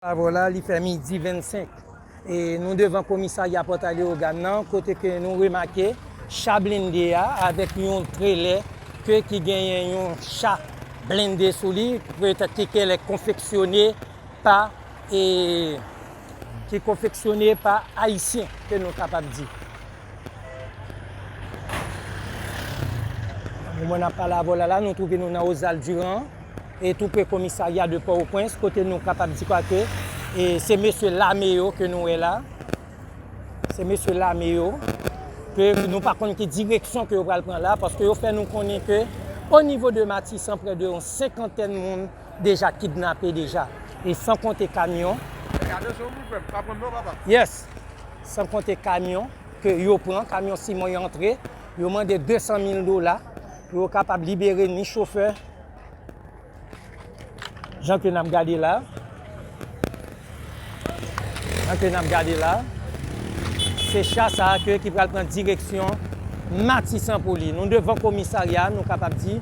Avw la li fè midi 25 e nou devan komisarya pòtay Leogàn nan kote ke nou remake cha blende a avèk yon trelè ke ki genyen yon cha blende sou li petèt ki kele konfeksyone pa e ki konfeksyone pa ayisyen ke nou kapab di. Moman nap pale avw la la nou twouve nou nan Ozal Durand. E tou pre komisarya de Port-au-Prince kote nou kapab di kwa ke e se mesye lame yo ke nou wè la. Se mesye lame yo ke nou pa konn ki direksyon ke yo pral pran la paske yo fè nou konnen ke o nivo de Matisan prè de yon senkantèn moun deja kidnape deja. E san konte kamyon. Fè atansyon pou frè m, pa pran m non papa. Yes. San konte kamyon ke yo pran, kamyon siman yo antre, yo mande 200 mil dola pou yo kapab libere ni chofè, Jan ke nap gade la. Jan ke nap gade la. Se cha sa a ke ki pral pran direksyon Matisan pou li. Nou devan komisarya, nou kapab di,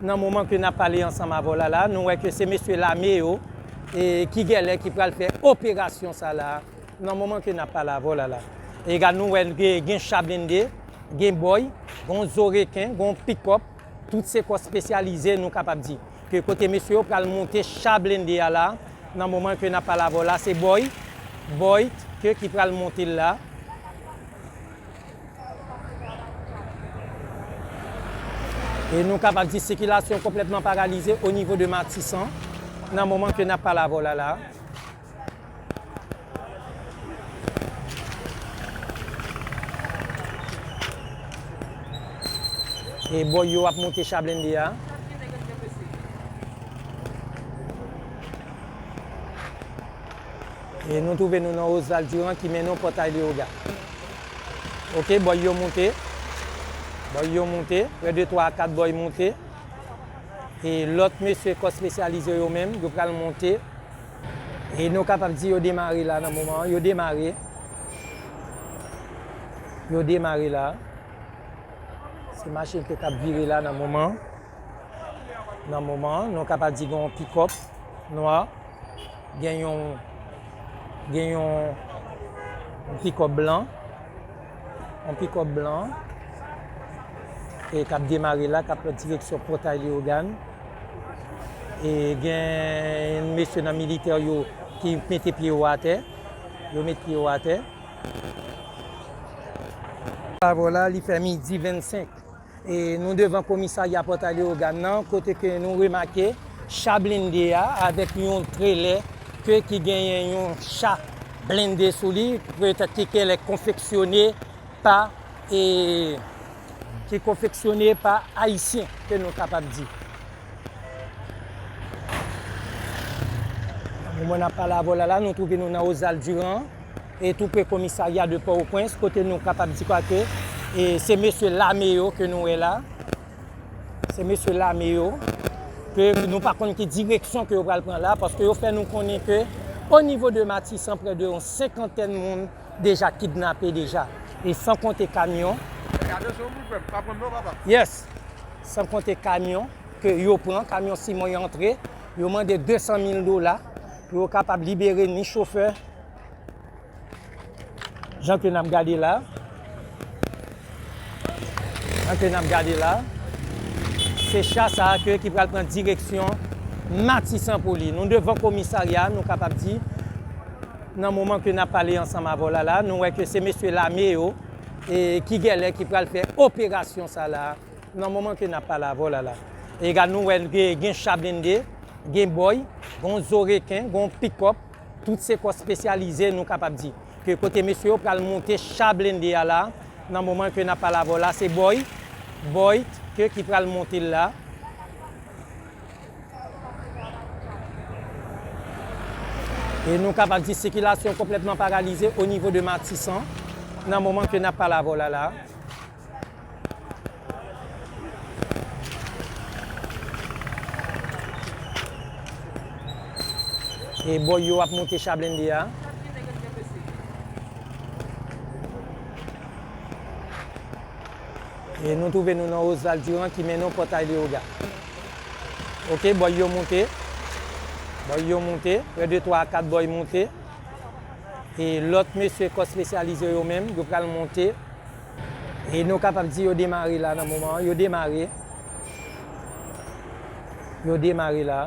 nan moman ke nap pale ansanm avè w la la, nou wè ke se mesye lame yo, e ki gèlè ki pral fè operasyon sa la, nan moman ke nap pale avè w la la. E gad nou wè gen cha blende, gen bòy, gen yon zo reken, gen yon pikòp. Tout se kò spesyalize nou kapab di. Ke kote mesye yo pral monte cha blende a la, nan moman ke nap pale avèw la se boy, boy ke ki pral montel la. E nou kapab di sikilasyon konplètman paralize o nivo de matisan nan moman ke nap pale avèw la la. E boy yo ap monte cha blende a. E nou touve nou nan Osval Diran ki men nou potay li oga. Ok, boy yo monte. Boy yo monte. Pre de 3 a 4 boy monte. E lot mesye kos spesyalize yo men, yo pral monte. E nou kapab di yo demare la nan moman an. Yo demare. Yo demare la. Se machin ke kap vire la nan moman an. Nan moman an. Nou kapab di gen yon pikòp nwa. Gen yon gen yon pikòp blan. Yon pikòp blan. E kap demare la. Kap pran direksyon potay Leyogan. E gen yon mesye nan militè yo ki mete pye yo atè. Yo met pye yo atè. Avò la, li fè midi 25. E nou devan komisarya Pòt A Leogàn nan, kote ke nou remake cha blende a avèk yon trelè ke ki genyen yon cha blende sou li, petèt ki kèlèk konfeksyone pa e ki konfeksyone pa Ayisyen ke nou kapab di. Nan moman n ap pale avè w la la, nou twouve nou nan Ozal Diran, e tou pre komisarya de Pòtoprens, kote nou kapab di kwa ke e se mesye lame yo ke nou wè la, se mesye lame yo, ke nou pa konn ki direksyon ke yo pral pran la, paske yo fè nou konnen ke o nivo de Matisan prè de yon senkantèn moun, deja kidnape deja e san konte kamyon yes san konte kamyon ke yo pran kamyon simon yo antre yo mande 200 mil dola pou yo kapab libere ni chofè jan ke nap gade la jan ke nap gade la se cha sa a ke ki pral pran direksyon matisan pou li nou devan komisarya nou kapab di Nan moman ke nap pale ansanm avè w la la, nou wè ke se mesye lame yo ki gèlè ki pral fè operasyon sa la a, nan moman ke nap pale avè w la la. E gad nou wè ke gen cha blende, gen bòy, gon zo reken, gon pikòp, tout se kò spesyalize nou kapab di. Ke kote mesye yo pral monte cha blende a la, nan moman ke nap pale avè w la se bòy, bòy, ke ki pral monte l la. E nou kapab di sikilasyon konplètman paralize o nivo de Matisan nan moman ke n ap pale avè w la la a. E bòy yo ap monte cha blende a. E nou twouve nou nan Osvaldiran ki mennen w Pòtay Leyoga. Ok boy yo moute. Boy yo moute. 1 2 3 4 boy moute. E lot mesye kò spesyalize yo menm yo pral moute. E nou kapab di yo demare la nan moman an. Yo demare. Yo demare la.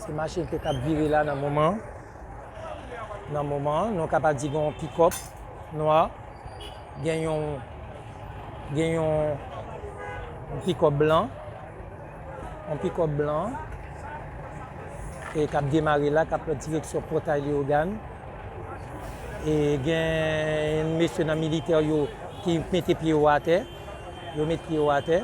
Se machin ke kap vire la nan moman an. Nan moman an. Nou kapab di gen yon pikòp nwa. Gen yon gen yon pikòp blan, yon pikòp blan e kap demare la kap pran direksyon pòtay Leogane e gen yon mesye nan militè yo ki mete pye yo atè, yo met pye yo atè.